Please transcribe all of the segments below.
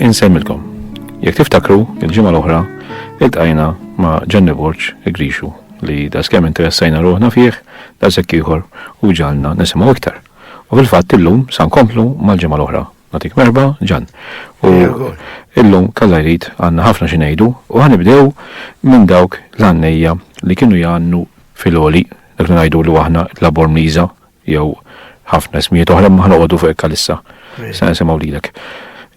Insemmilkom. Jekk tiftakru, il-ġimgħa l-oħra iltqajna ma' Ġanni Borġ Grixu li da skemm interessajna ruħna fih da ieħor u ġalna nisimgħu iktar. U fil-fatt illum sa nkomplu mal-ġimgħa l-oħra. Natik merba, ġan. U illum kalla jrid għandna ħafna xi ngħidu u ħanibdew minn dawk l-għannejja li kienu jgħannu fil-oli dak ngħidu li aħna labor mliża Jew ħafna ismijiet oħra ma ħanoqogħdu fuq hekk issa. Se nisimgħu lilek.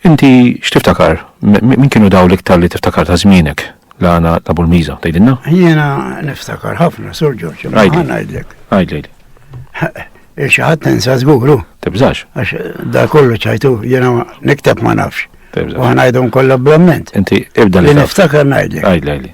Inti x'tiftakar? Min kienu daw l-iktar li tiftakar ta' żmienek? La għana ta' Bulmiza, tajdinna? Jena niftakar ħafna, sur ġoċ, għana għidlek. Għajdlejli. Ixħat tensa zguru. Tibżax. Għax da kollu ċajtu, jena niktab ma nafx. U għana għidhom kollha blamment. Inti ibda li. Niftakar najdlek. Għajdlejli.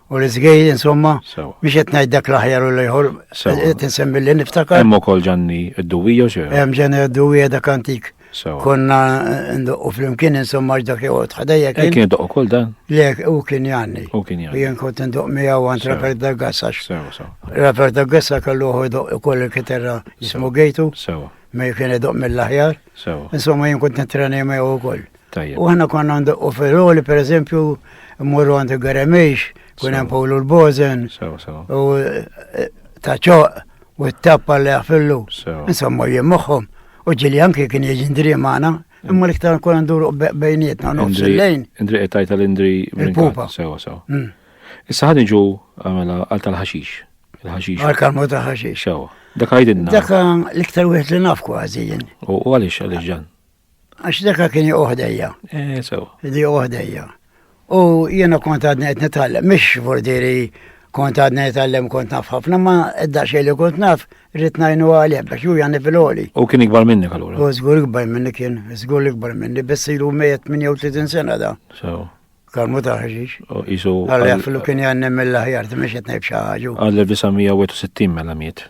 u l-izgej, insomma, biex qed ngħid dak l-aħjar u l-ieħor, qed insemmi li niftakar. Hemm ukoll ġanni d-duwija xi. Hemm ġanni d-duwija dak antik. Konna eh, ndoqqu flimkien insomma dak joqgħod ħadejja eh, kien. Kien doqqu kull dan. Le, u kien janni. U kien janni. Jien kont ndoq miegħu għand Rafer Daggassa. Rafer Daggassa kellu hu doq ukoll il-kiterra jismu Gejtu. Sewa. Ma kien doq mill-aħjar. Insomma jien kont nitreni miegħu ukoll. Tajjeb. U għana konna għandu u feroli, per eżempju, morru għandu għaremix, kun hemm Pawlu l-Bozen, u eh, taċoq, u t-tappa li għafillu. Insomma, jien moħħom. U ġili anki kien jieġi ndri maħna, imma l-iktar kun għandu bejnietna, nofs il-lejn. Indri għetajt għal-indri il-pupa. Sewa, sewa. Mm. Issa ħadin ġu għamela għal tal-ħaxix. Il-ħaxix. Għal kalmu ta' ħaxix. Sewa. Dak għajdinna. Dak l-iktar wieħed li naf kważi jien. U għalix, għalix ġan. Għax daka kien joqgħu ħdejja. Eh, sew. Li joqgħu ħdejja. U jiena kont għadni qed nitgħallem, mhix vurdiri kont għadni nitgħallem kont naf ħafna, ma edda xejn li kont naf rrid ngħinu għalih biex ju jani fil-għoli. U kien ikbar minni allura. U żgur ikbar minni kien, żgur ikbar minni, biss ilu 138 sena da. Sew. Kalmu taħġiġ. U jisu. Għalli għaflu kien jannem mill-ħjar, t-miex jtnejb xaħġu. Għalli 1960 mela miet.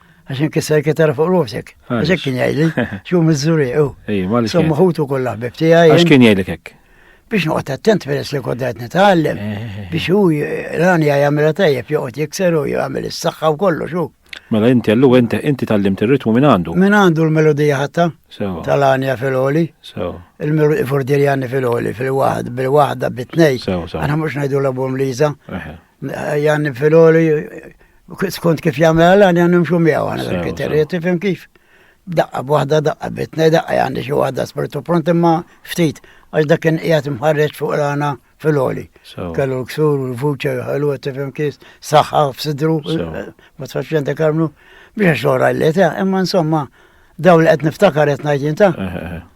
Għax inkisser kitar fuq rosek. Għax kien jgħidli, xu mizzuri, u. Ej, ma li. Somma ħutu kollha ħbib tiegħi. Għax kien jgħidlek hekk biex noqgħod attent peress li koddajt nitgħallem eh, eh, eh. biex hu rani jagħmilha tajjeb joqgħod jikser u jagħmel is-saħħa u kollox hu. Mela inti għallu inti inti tallimt ir-ritmu minn għandu. Minn għandu l-melodija ħatta tal-għanja fil-oli. Il-melodija fordirjani fil-oli fil-waħd bil-waħda bit-tnej. Għana mhux ngħidu l-abum Liza. Jan Filoli, skont kif jagħmel għal għan nimxu miegħu għana bil-kriterji, tifhem kif? Daqqa b'waħda daqqa bitna daqqa għandi xi waħda spirtu pront imma ftit għax dak kien qiegħed imħarreġ fuq rana fil-oli. Kellu l-ksur u l-vuċa ħelu tifhem kif saħħa f'sidru eh, ma tfax jenta karmnu biex xogħol għallet, eh, imma insomma daw li qed niftakar qed ngħid jinta. Eh,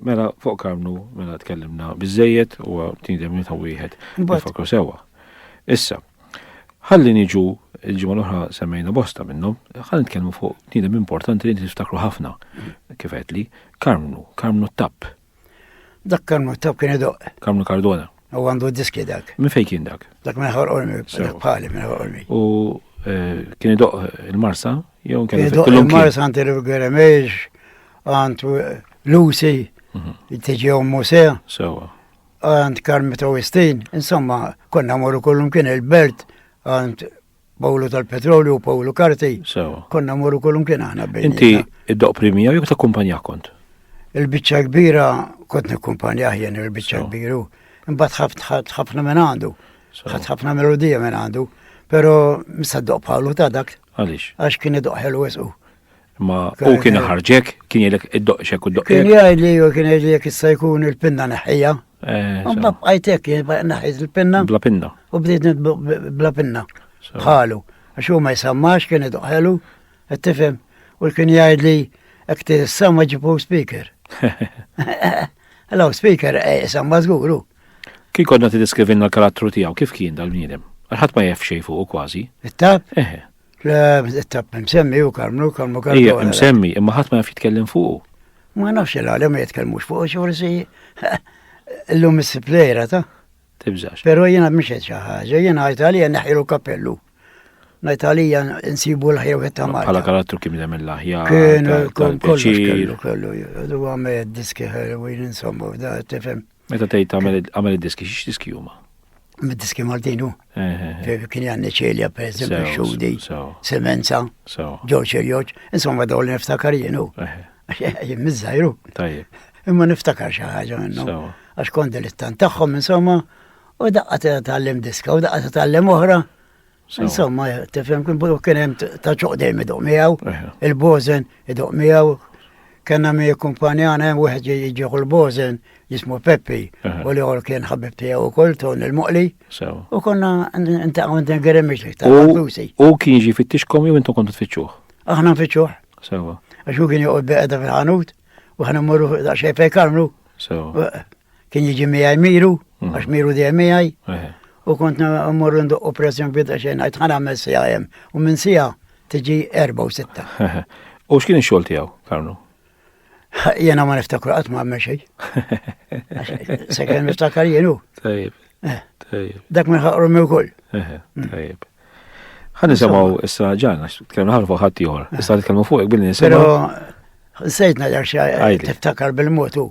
Mela fuq karnu, mela tkellimna biżejjed u tindem minn ta' wieħed nifakru sewwa. Issa, ħalli niġu il-ġimgħa l-oħra semmejna bosta minnhom, ħalli nitkellmu fuq tindem importanti li niftakru ħafna kif qed li karnu, karnu t-tapp. Dak karnu t-tapp kien idoq. Karnu Cardona. U għandu d-diski dak. Minn fejn kien dak? Dak minn ħor ormi, dak bħali minn ħor ormi. U eh, kien idoq il-marsa, jew kien idoq il-marsa għanti l-għeremeġ, għant Lucy, mhm. tiġi għom Muse, għant Karmito Wistin, insomma, konna morru kollum kien il-belt, għant Pawlu tal-Petrolju u Pawlu Karti. Sewa. Konna morru kolum kien aħna bejn. Inti id-doq primija jew ta' kumpanija kont? Il-biċċa kbira kont nikkumpanja jien il-biċċa kbiru. Imbagħad ħaft ħafna minn għandu. Ħaft ħafna melodija minn għandu. Però msaddoq Pawlu ta' dak. Għaliex? Għax kien idoq ħelu wisqu. Imma u kien ħarġek, kien jgħidlek id-doqxek u d-doqxek. Kien jgħidli u kien jgħidlek issa jkun il-pinna neħħija. Eh, Mbab għajtek naħħiż il-pinna. Bla pinna. U bdiet bla pinna. Bħalu. Għax huma jsammax kien idoqħelu, qed tifhem. U kien jgħidli hekk tissamma ġibu speaker. Hello, speaker, eh, samma żguru. Kien kodna tiddiskrivinna l-karattru tiegħu kif kien dal-bniedem? Għalħat ma jaf xejn fuq kważi. It-tab? Eħe. Tab msemmi u Karmnu, Karmnu Karmnu. Ija, msemmi, imma ħadd ma jaf jitkellem fuqu. Ma nafx il-għalem ma jitkellmux fuqu, xorsi l-lum is-siplejra ta' tibżax. Pero jena mhix qed xi ħaġa, jena għajt għalija neħilu kappellu. Ngħid għalija nsibu l-ħjew qed tagħmel. Bħala karattru kien hemm il-aħjar. Kien kollox kellu kellu. Huwa me diski ħelwin insomma da tifhem. Meta tgħid għamel id-diski, xiex diski huma? Mid-diski Maltin hu. Kien għanni ċelja, per eżempju, xudi, semenza, ġoċ il-joċ, insomma daw li niftakar jienu. Jien mizzajru. Tajjeb. Imma niftakar xi ħaġa minnhom. Għax kont dilettant tagħhom insomma, u daqqa tgħallem diska, u daqqa tgħallem oħra. Insomma, tifhem kien bulu kien hemm ta' ċoqdejn iduq miegħu, il-bożen iduq miegħu, kellna mi kumpanjana hemm wieħed jiġieħu l-bożen jismu Peppi u li għol kien ħabib tiegħu wkoll ton il-moqli. U konna ntaqgħu din geremixli ta' U kien ġi fittixkom jew intom kontu tfittxuh? Aħna nfittxuh. Sewa. Għax u kien joqgħod beqda fil-ħanut u ħana mmorru daqsxejn fejn karnu. Sewa. kien jiġi miegħi miru, mm. għax miru dejjem miegħi. Eh. U kont mmorru ndoqqu pressjon bidda xejn għajt ħana għamel sija hemm u minn sija tiġi erba' u sitta. Eh. U x'kien ix-xogħol tiegħu, Karnu? Jena ma niftakru qatt ma għamel xejn. Sekken niftakar jenu. Tajib. Eh. Tajib. Dak minn ħaqru mi wkoll. Mm. Tajib. Ħan nisimgħu issa ġan għax tkellmu ħafna fuq ħadd ieħor. Issa nitkellmu fuq billi nisimgħu. Sejtna dak xi tiftakar bil-motu.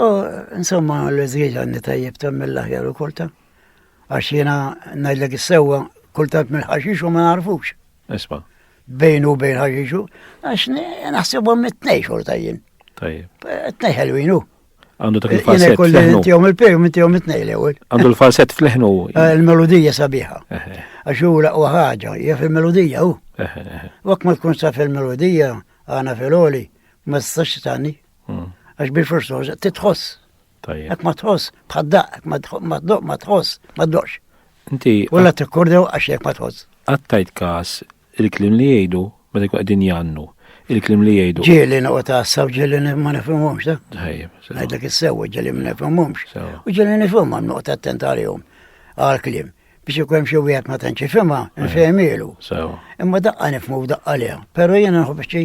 Oh, insomma, l-eżieġ għanni tajjeb ta' mill-aħjar u kulta. Għax jena najdlek s-sewa kultant mill-ħaxix u ma narfux. Isma. Bejn u bejn ħaxixu, għax naħsebu mit-tnej xorta jien. Tajjeb. Tnej ħelwinu. Għandu ta' kif-falset. Kolli tijom il-pej, mit tijom it-nej l-ewel. Għandu l-falset fl-ħnu. Eh, il-melodija sabiħa. Għax u laqwa ħagġa, jaf il-melodija u. Wak ma tkun saf il-melodija, għana fil-oli, ma s-sax tani. Hmm. Għax bil forsoż titħoss. Tajjeb. Ek ma tħoss, bħaddaq, ek ma tħoss, ma tdoqx. Inti. Ulla t-kordew għax ek ma tħoss. Għattajt kas il-klim li jgħidu meta jkun qegħdin jannu. Il-klim li jgħidu. Ġieli noqgħod taħsab ġieli ma nifhimhomx ta. Tajjeb. Ngħidlek is-sewwa ġieli ma nifhimhomx. U ġieli nifhimhom noqgħod attent għalihom għal-klim biex ikun xi wieħed ma tantx ifhimha, nfehmielu. Imma daqqa nifhmu daqqa leha, però jiena nħobb xi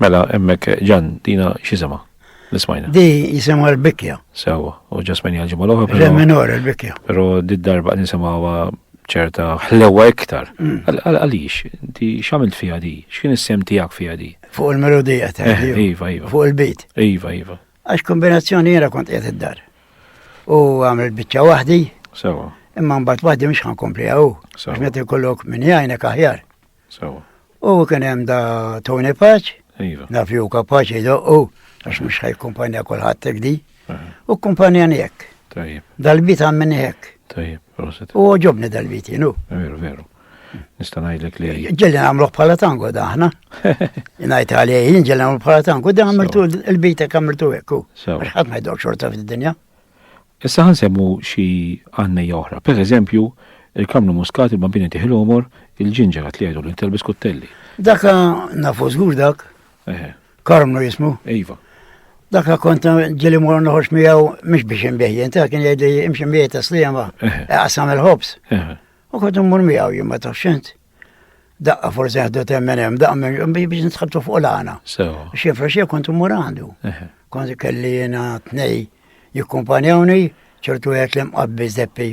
Mela, emmek, ġan, dina xisimha? Nismajna. Di jisimha l-bikja. Sewa, u ġasmini għal-ġimgħa l-oħra. Re minor il-bikja. Però di darba nisimgħuha ċerta ħlewa iktar. Mm. Għaliex, di x'għamilt fiha di? X'kien is-sem tiegħek fiha di? Fuq il-melodija ta' eh, Iva, iva. Fuq il-bit. Iva, iva. Għax kombinazzjoni jiena kont qiegħed id-dar. U għamil biċċa waħdi. Sewa. Imma mbagħad waħdi mhux ħankompli hawn. Għax meta jkollok minn jgħinek aħjar. Sawa. U kien hemm da Tony Paċ, iva. naf jew kapaċi jdoqqu, għax mhux ħaj kumpanja kulħadd hekk di. U kumpanja hekk. Tajjeb. Dal-bit għammin hekk. Tajjeb, proset. U ġobni dal-bit jenu. Veru, veru. Nista' ngħidlek li. Ġelli nagħmluh bħala tango daħna. Ngħid għalih jien ġelli nagħmlu bħala tango, da għamiltu l-bita għamiltu hekk. Ħadd ma jdok xorta fid-dinja. Issa ħa nsemmu xi għannejja oħra. Per eżempju, il-kamlu muskat, il-bambini tih il-għomor, il-ġinġer għat li jgħidu li ntelbis kuttelli. Daka nafu żgur dak. Eħe. Karmnu jismu. Iva. Daka kont ġili mor noħorġ miegħu mhux biex inbih ta' kien jgħidli imxi miegħi ta' sliema, qasam il-ħobs. U kont immur miegħu jien ma tafx Daqqa forse għaddu temmen hemm, daqqa minn biex nitħabtu fuq l-għana. Xifra xie kont immur għandu. Kont kelli jena tnej jikkumpanjawni, ċertu għet li mqabbi zeppi,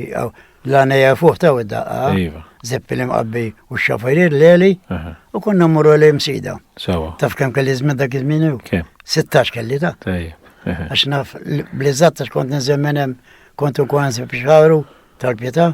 l-għana jafuħ ta' daqqa, iva. zeppi li mqabbi u xafarir l-eli, u konna mmur li msida. Taf kem kelli zmin dak iż-żmien u? 16 kelli ta' Għax naf blizzat għax kont nizemmenem, kont u kwanzi biex tal-pieta,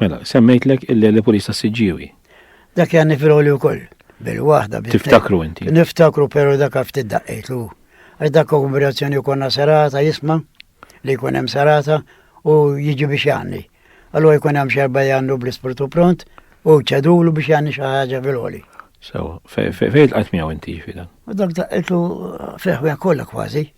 Mela, semmejtlek il-Lepolis ta' Siġġiewi. Dak janni fil-ħoli wkoll. Bil-waħda. Tiftakru inti. Niftakru però dak ftit daqqejtlu. Għax dak kongregazzjoni konna serata jisma' li jkun hemm serata u jiġi biex janni. Allura jkun hemm xerba jannu bl-ispirtu pront u ċedulu biex janni xi ħaġa fil-ħoli. So, fejn tqajt miegħu inti fida? Dak daqqejtlu fejn kollha kważi.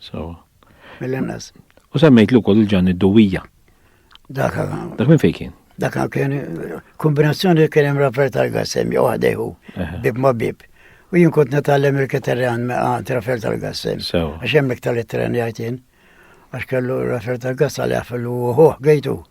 Sawa. Mill-inqas. U semmejt li wkoll il-ġanni d-duwija. Dak Dak minn fejn kien? Dak kien kombinazzjoni li kien hemm Rafael Targas hemm jew ħdejhu bib ma' bib. U jien kont natgħallem il-kitarri għand għand Rafael Targas hemm. Għax hemm iktar it-tren jgħid jien. Għax kellu Rafael Targas għal jaf il-hu għejtu.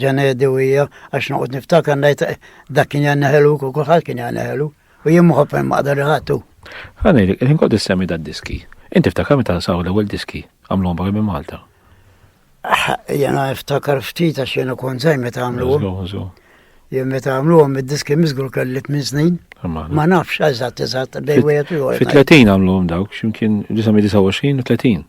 Ġanedi u hija għax noqgħod niftakar ngħid eh, dak kien jgħan neħelu u kulħadd kien jgħan neħelu u jien moħob hemm maqdar iħattu. Ħani, il-ħin kod issemmi da diski. Inti ftakar meta saw l-ewwel diski għamluhom barra minn Malta. Ah, jena iftakar ftit għax jena kon zaj meta għamluhom. Jien meta għamluhom id-diski miżgur kelli minn snin. Ma nafx eżatt eżatt bej wieħed u Fi 30 għamluhom dawk x'imkien 29 u 30.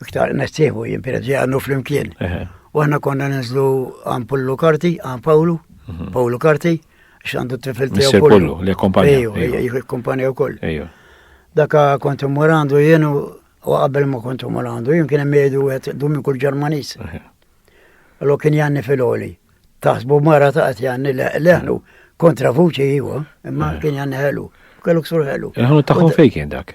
Iktar nessieħu jien per għandu flimkien. U għanna konna nizlu għan Pullu Karti, għan Pawlu, mhm. Pawlu Karti, xandu t-tifil tiegħu Pullu. Li kompanja. Ejju, kompanja wkoll. Daka kont immur għandu jien u qabel ma kont immur għandu jien kien hemm jgħidu wieħed dum kull Ġermaniż. Allo kien janni fil-oli. Taħsbu mara ta' qed janni leħnu kontra vuċi jiwa, imma kien janni ħelu. Kellu ksur ħelu. Il-ħanu tagħhom fejn kien dak?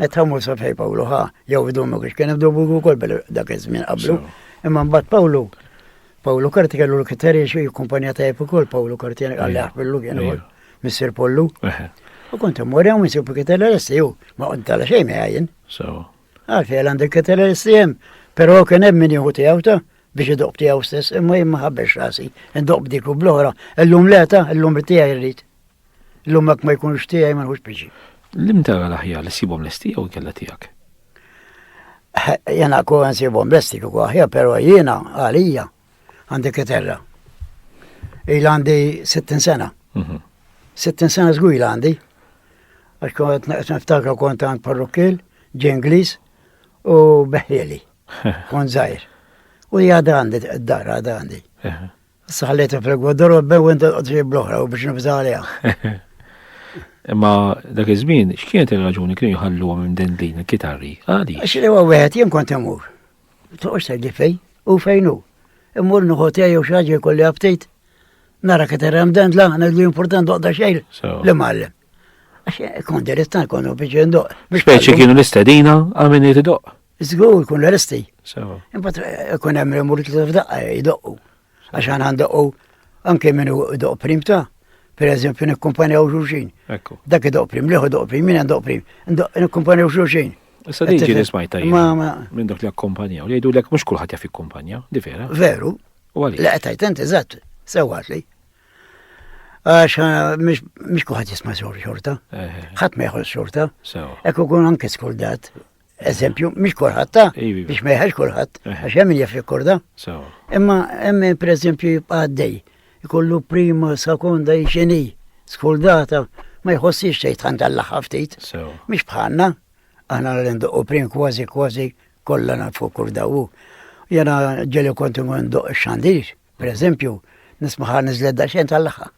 Meta mur sa fej Pawlu ħa jew idumu kiex kien hemm dubju wkoll dak iż-żmien qablu. Imma mbagħad Pawlu Pawlu Karti kellu l-kiteri xi kumpanija ta' ukoll Pawlu Karti għalli aħbillu kien ukoll Mr. Pollu. U kont immur hemm insib kiteri l-essi u ma qont tala xejn jgħajjen. Għalfejn għandek kiteri l-essi hemm, però kien hemm min jieħu tiegħu ta' biex idoq tiegħu stess imma jien ma ħabbex rasi, idoq dik u bl-oħra, illum leta, illum tiegħi rrid. Illum mak ma jkunx tiegħi ma nħux piġi. Lim tara l-aħjar li sibhom lesti jew kella tiegħek? Jena ku nsibhom lesti kieku aħjar, però jiena għalija għandi kiterra. Il għandi 60 sena. 60 mhm. sena żgwil għandi. Għax kont niftakar kont għand parrukkil, ġenglis u beħjeli. Kont żgħir. U jgħad għandi d-dar għad għandi. Saħlet fl-egwa dorobbe u inta tqotri bl-oħra u biex nibża għalija. Imma dak iż-żmien, x'kienet ir-raġuni kienu jħalluhom minn din din il-kitarri? Għadi. Għax li huwa wieħed jien kont imur. Toqgħodx tgħidli fejn u fejn hu. Immur nieħu tiegħi jew xi ħaġa jkolli aptit. Nara kitarra hemm dan la, li important doqda xejn li mgħallem. Għax eh, kont dirittan kont biex jindoq. Speċi kienu l-istedina għal min jtidoq. Zgur kun l-arresti. Imbat eh, kun hemm remur kif f'daqqa eh, jdoqqu. Għax għan għandoqqu anke minnu doq prim ta' per eżempju nikkumpanjaw xulxin. Dak idoq prim, liħu doq prim, minn doq prim, nikkumpanjaw xulxin. Issa li ġiri smajta minn dak li akkumpanjaw, li jgħidu l-ek mux kullħat jaf jikkumpanjaw, di vera. Veru. U għalli. Laqqa tajt, enti, zatt, sewat li. Għax ah, mux kullħat jisma xorta. Ħat meħol xorta. Ekku kun anke skordat. Eżempju, mhix kulħadd ta' Ivi. biex ma jħax kulħadd, Eh. għax hemm min jaf jikkorda. Sawa. Imma hemm min pereżempju jibqa' għaddej, ikollu prima, sekonda, xini, skuldata, ma jħossix xejn tant għall-aħħar ftit. Sawa. Mhix bħalna, aħna li ndoqqu prim kważi kważi kollha nafu kull dawu. Jena ġeli kontu ndoq xandir, pereżempju, nismaħa niżlet daqsxejn tal-laħħa.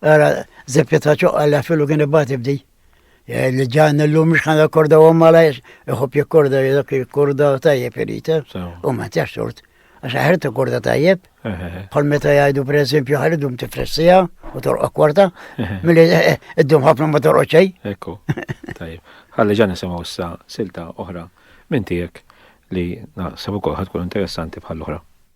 Ara, zepja ta' ċoqqa li għafilu kien ibati bdi. Eh, li ġan l-lum mux ħana korda u malajx, iħob jikkorda dak il-korda tajjeb irita, eh? u ma tijax tort. Għax ħarta korda tajjeb, bħal meta jgħidu per eżempju ħaridum tifressija u torqa kwarta, mill-li eh, id-dum ħafna ma torqa ċej. Ekku, tajjeb. Għalli ġan nisimaw sa silta oħra minn tijek li naħseb ukoll ħatkun interessanti bħal-oħra.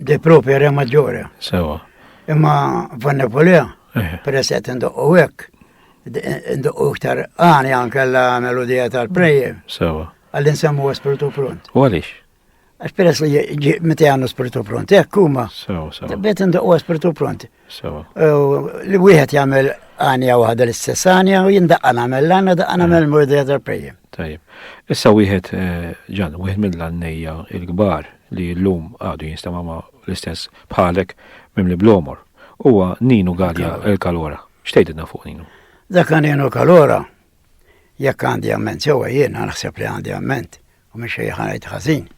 De propria re maggiore. Sewa. Imma vanne polea, eh. per eset indoqqu hekk, indoqqu iktar għani anke la melodija tal-prejje. Sewa. Għallin semmu spiritu pront. U għalix? Għax peress li meta għannu spiritu pront, hekk huma. Sewa, sewa. Bet indoqqu spiritu pront. Sewa. Li wieħed jagħmel għanja waħda l-istess għanja u jindaqqa nagħmel l-għanja daqqa eh. nagħmel murdija tal-prejjem. Tajjeb. Issa wieħed eh, ġan, wieħed mill-għannejja il-kbar li l-lum għadu jinstama ma l-istess bħalek mim li blomor. Huwa Ninu Galja il-Kalora. Xtejdidna fuq Ninu? Dak Ninu Kalora, jekk għandi amment, sewa jien naħseb li għandi amment, U minn xejn ħanajt ħażin.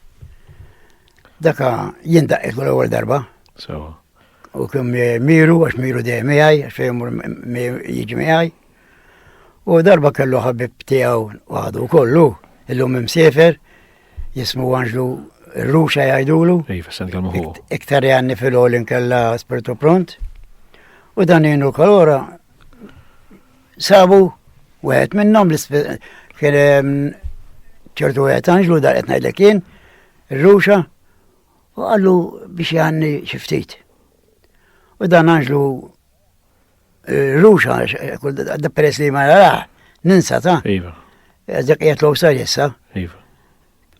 Daka jien daqqet l-ewwel darba. Sewa. U kien miru, għax miru dejjem miegħi, għax jemur jiġi miegħi. U darba kellu ħabib tiegħu waħdu kollu, illum imsiefer, jismu Anġlu Ruxa jgħidulu. Iva, sen kelmu hu. Iktar jgħanni fil-ħolin kella spiritu pront. U dan jenu kalora Sabu, wieħed minnhom kien ehm, ċertu wieħed anġlu dar qed ngħidlek kien, ir-ruxa, u għallu biex jgħanni xi ftit. U dan anġlu eh, ruxa, da peress li ma jaraħ, ninsa ta' iva. dak jgħetlu sar jessa. Iva.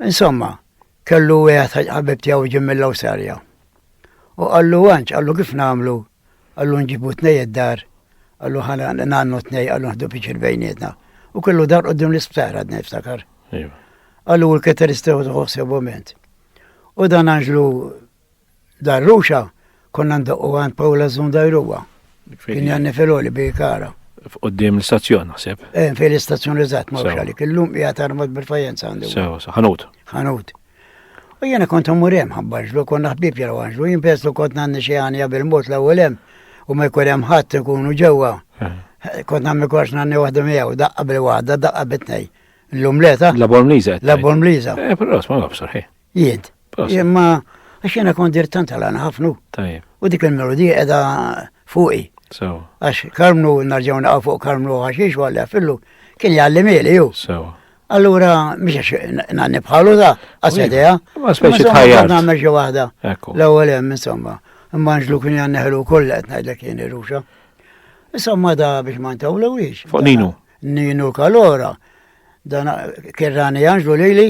Insomma, Kellu wieħed ħabib tiegħu ġim mill-Awsarja. U qallu għanċ, qallu kif nagħmlu, qallu nġibu tnej id-dar, qallu ħana nannu tnej, qallu nħdu piċir bejnietna. U kellu dar qudiem l-isptar għadna niftakar. Iva. Qallu u l-keter istaw tħosseb moment. U dan għanġlu Dar Ruxa konna ndoqqu għand Paula Zundajruwa. Kien janni filoli bi kara. F'qoddim l-istazzjon naħseb. Eh, fil istazzjon eżatt ma għalik. Illum hija tarmat bil-fajenza għandu. Sew, ħanut. Ħanut. U jena kont murem ħabbaġlu, konna ħbib jena għanġlu, jimpeslu kont nanni xie għanja bil-mot l ewwelem u ma jkurem ħadd ikunu ġewwa. Eh. Kont nammi kors nanni waħda miegħu, daqqa bil-waħda, daqqa bitnej. L-umleta? La bormliza. La bormliza. Eh, però, ma għabsar, Jed. Imma għax jena kont dir tant għal ħafnu. Tajjeb. U dik il-melodija edha fuqi. Sewa. Għax karmnu narġaw naqaw fuq karmnu għaxix għalli fillu kien jgħallim ili ju. Sewa. Allura, miex nanni bħalu da, għasedija. Ma speċi tħajjar. Ma meġi wahda. L-ewel hemm, insomma. Imma nġlu kien janni ħelu koll qed ngħidlek jien ruxa. Insomma da biex ma ntawlu wiex. Fuq Ninu. Ninu kalora. Dan kirrani janġlu lili.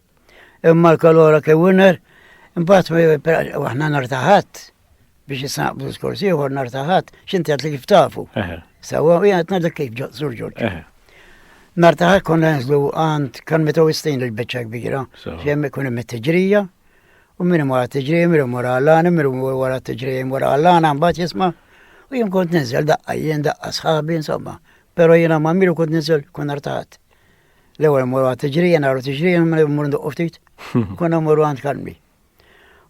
Imma l-kalora ke winner, imbat waħna nartaħat biex jisnaqbu l-skors ieħor nartaħat, xinti għat li kif tafu. Sawa, u jgħat nardak kif ġozzur ġorġ. Nartaħat konna nżlu għand kan metaw istin l-bicċa kbira, jem ikun hemm it-tiġrija, u minn wara t-tiġrija, minn wara għallana, minn wara t-tiġrija, minn wara għallana, mbagħad jisma' u jien kont niżel daqqa, jien daqqa sħabi, insomma. Pero jiena ma' miru kont niżel kun artaħat. L-ewwel mmur għand tiġrija, naru tiġrija, mmur nduqqu ftit. Konna mmur għand kalmi.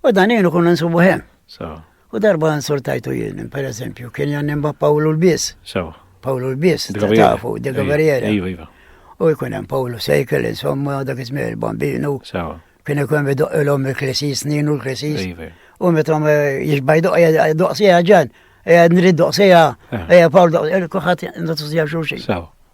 U dan jenu konna nsubu hemm. U darba nsortajtu jien, per eżempju, kien jan nimba Pawlu l-Bis. Pawlu l-Bis, tafu, de Gavariera. Iva, iva. U jkun hemm Pawlu Sejkel, insomma, dak ismi il-bambinu. Kien ikun bidoq il-om il-klesi snin u l-klesi. Iva. U meta jixbaj doqsija ġan, nrid doqsija, eh. Pawlu doqsija, kuħat ndoqsija xurxin.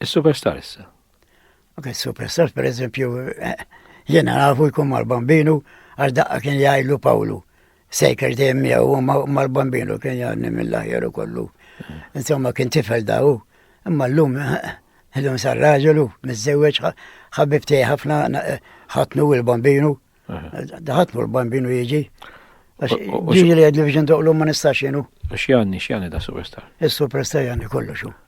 Is-superstar issa. Ok, superstar per eżempju, eh, jena nafu jkun mal-bambinu għax daqqa kien jgħidlu Pawlu. Sejker dejjem miegħu mal-bambinu kien jgħadni mill-aħjar kollu. Insomma kien tifel daw, imma llum eh, llum sar raġelu, miżżewweġ ħabib tiegħi ħafna eh, ħatnu l-bambinu. Daħatnu l-bambinu jiġi. Ġiġi li għedli biex ndoqlu ma nistax jenu. Xjani, xjani da superstar. Il-superstar jani kollu xu.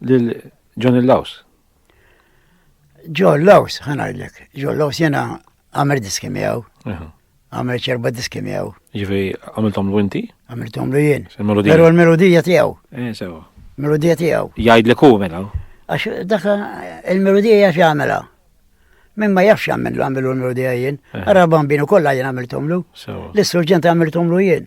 Lil John Laws. John Laws, ħanajlek. John Laws jena għamel diski miegħu. Għamel ċerba diski miegħu. Ġifi, għamiltom l inti? Għamiltom l jien. Pero l-melodija tiegħu. Eh, sewa. Melodija tiegħu. Jgħid li ku mela. Għax dak il-melodija jgħax jagħmilha. Min ma jafx għamillu għamillu l-melodija jien. Eh. Għarra bambinu kollha jien għamiltomlu. L-istruġent għamiltomlu jien.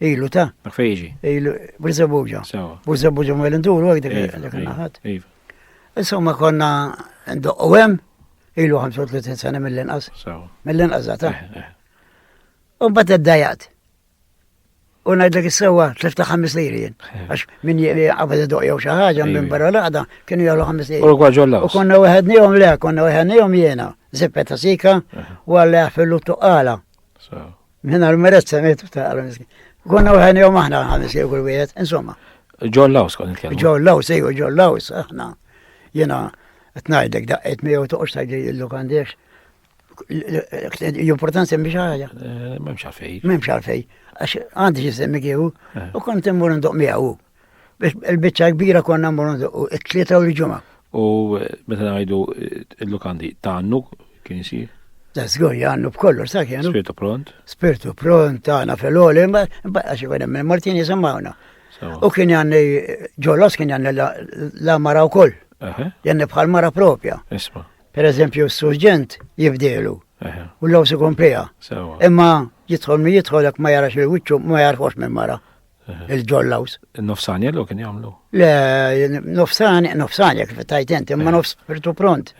Ilu ta? Dak fejn jiġi. Ilu, Burzabuġa. Sewa. Burzabuġa ma l-induru għek dik Iva, dak iva, naħat. Iva. Insomma konna ndoqqu hemm ilu 35 sena mill-inqas. Sewa. Mill-inqas ta? Eh, eh. U mbagħad iddajat. U ngħidlek is-sewwa tlift ta' ħames liri jien. Eh. Għax min qabad idoq jew xi ħaġa minn barra l-qagħda kienu jagħmlu ħames liri. U ġolla. U konna weħednihom le, konna weħednihom jiena. Zippet ta' sika u għalli fil-luttu qala. Minna l-meret semitu ta' għal-miskin. Konna u ħajni jom aħna ħamis jew kull wieħed, insomma. John Laws kon nitkellmu. John Laws, ejwa John Laws, aħna. Jena, tnajdek daqqet mi jew toqx tajdi illu għandiex. Jumportan semmi xaħġa. Eh, Memx għalfej. Memx għalfej. Għax għandi ġisemmi kieku, eh. u kont immur ndoq miegħu. Il-bicċa kbira konna mmorru ndoqqu it-tlieta u l-ġimgħa. U meta ngħidu il-lukandi ta' għannu kien isir? Ta' żgur għannu b'kollu, sa' kienu. Spirtu pront. Spirtu pront, tagħna fil-għoli, għax ikun hemm Martin jisimgħuna. U kien għanni ġolos kien għanni la mara wkoll. Janni bħal mara propja. Isma. Per eżempju, s-surġent jibdelu. U l-law si komplija. Imma jitħol mi jitħol ma jarax il-wicċu ma jarħox minn mara. il-ġollaws. Nofsani għallu kien jgħamlu? Le, nofsani, nofsani kif tajt inti, ma nofs spirtu pront.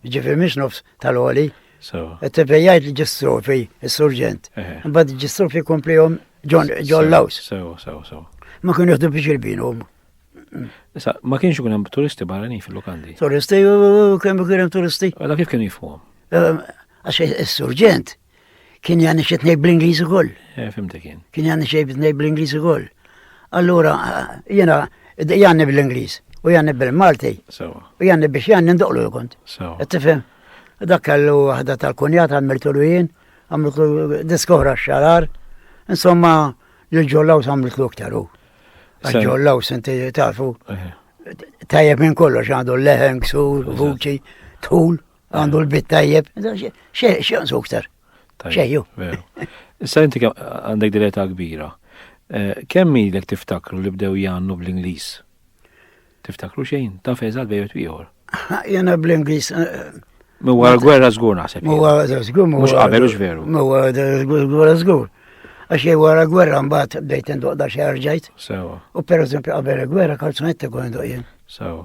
Ġifir miex nofs tal-oli. Tebejajt li ġistrofi, il-surġent. Bad ġistrofi komplihom ġollaws. Sew, sew, sew. Ma kien jħdu biex il-binum. Issa, ma kienx ikun hemm turisti barranin fil-lokandi. Turisti, kemm kien hemm turisti? Għala kif kien jifhom? Għax is-surġent Kien jani xi tnej bl-Ingliż ukoll. Eh, fimtek kien. Kien jani xi tnej bl-Ingliż ukoll. Allura jiena jani bl-Ingliż u jani bil-Malti. U jani biex jani ndoqlu kont. Tifhem? Dak kellu waħda tal-kunjat għamiltu l jien, għamiltu diskohra xarar, insomma l-ġollaw għamiltu iktar u. Ġollaw senti tafu. Eh. Tajjeb minn kollox għandu leħen, ksur, vuċi, tul. Għandu l-bit tajjeb, xeħ nsu ktar. Xeħju. Issa inti għandek direta kbira. Eh, kemm ilek tiftakru li bdew jannu bl-Inglis? Tiftakru xejn, ta' feżal bejt ieħor. Jena bl-Inglis. Eh, Mwa gwerra zgur naħseb. Mwa gwerra zgur. Mux qabel ux veru. Mwa gwerra zgur. Għax jgħu għara gwerra mbaħt bdejt ndoq da xie ġajt. Sewa. U per eżempju qabel gwerra kalzunetti għu ndoq jien. Sewa.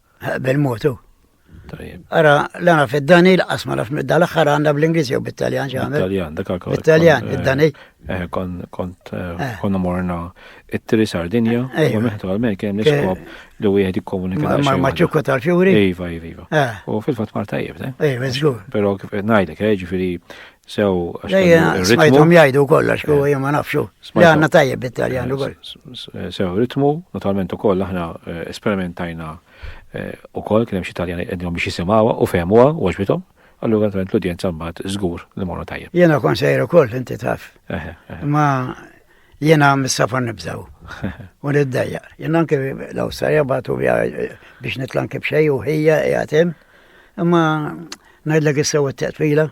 Bil-mod hu. Tajjeb. Ara, l-għana fid-Dani, l-qas ma nafx mid-dal aħħar għandha bl-Ingliż jew bit-Taljan xi għamel. Bit-Taljan, dak għakol. Bit-Taljan, eh, id-Dani. Eh, kont eh, eh. konna morna it-Tri Sardinja, eh, u meħtu għal-men kien niskop li u jgħed jikkomunika. Ma maċċukku tal-fjuri? Iva, iva, iva. U fil-fat marta jibda. Iva, zgur. Pero kif najdek, ġifiri, Sew, għax smajthom jgħidu wkoll għax huwa jien ma nafxu. Li għandna tajjeb bit-Taljan ukoll. Sew, ritmu, naturalment ukoll aħna eh, esperimentajna eh, ukoll kien hemm xi Taljani qegħdhom biex jisimgħuha u fehmuha u għaġbithom. Allura naturalment l-udjenza mbagħad żgur li morru tajjeb. Jiena kon sejr ukoll inti taf. Ma jiena mis-safar nibżaw. U niddejja. Jiena anke l-Awstralja bagħtu eh, biex nitlan kif xejn u ħija qiegħed hemm. Imma ngħidlek issew it-teqfila.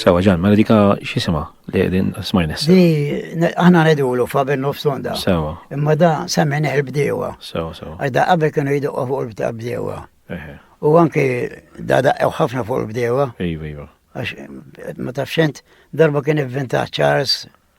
Sewa ġan, ma dika xisima li din smajnes. Di, aħna nedulu fabel nofs onda. Sewa. Imma da semmen il-bdewa. Sewa, sewa. Għadda qabel kienu jidu fuq il-bdewa. U anki da da ħafna fuq il-bdewa. Iva, iva. Għax ma tafxent darba kien inventa Charles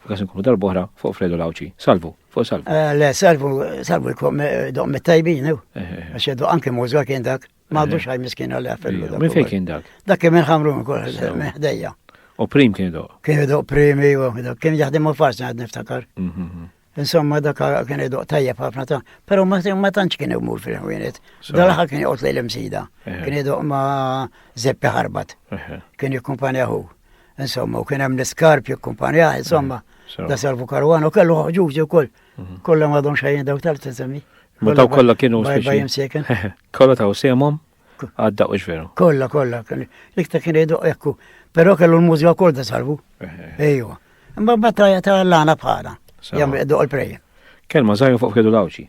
F'każ inkunu darb'oħra fuq Fredo Lawċi. Salvu, fuq salvu. Eh, le, salvu, salvu l-kom eh, doq mit-tajbin, eh. għax jaddu anke muża kien dak. Ma għadux għaj miskin għalli għaffellu. Minn fej kien dak? Dak kien minn ħamru minn kol, minn ħdejja. U prim kien doq? Kien doq primi, kien jaħdem u farsi għad niftakar. Mhm, mhm. Insomma, dak kien doq tajjeb ħafna ta' pero ma tantx kien imur fil-ħwienet. Dalaħa kien joqgħod lejl imsida. Kien doq ma' zeppi ħarbat. Kien jikkumpanjaħu. insomma, u kien hemm l-iskarp jikkumpanjah, insomma, da Salvu Karwan u kellu ħġuġi wkoll. Mhm. Kollha madhom xejn daw tal tisemmi. Ma daw kollha kienu Kollha taw semhom għadda u xveru. Kollha kollha, l-iktar kien jgħidu ekku, però kellu l-mużika wkoll da Salvu. Ejwa. Imma battajja ta' l-għana bħala. Jagħmel qdu l-prejja. Kelma żgħir fuq kedu l-awċi.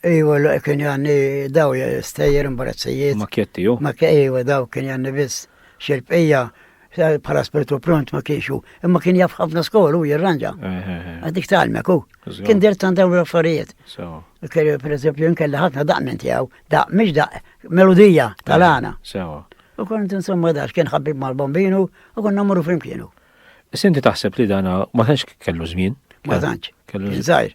Iwa, l kien janni daw stejjer imbarazzijiet. Makjetti, jo? Makjetti, iwa, daw kien janni biss. Xil-bqija, bħala spiritu pront ma kienxu. Imma kien jaf ħafna skolu u jirranġa. Għadik talmek u. Kien dir tan daw l-affarijiet. Per eżempju, nkella ħafna daq minn tijaw. Daq, miex daq, melodija tal-għana. U kont insomma dax kien ħabib mal-bombinu u konna morru flimkienu. Sinti taħseb li dana ma tanx kellu żmien? Ma tanx. Kellu żmien.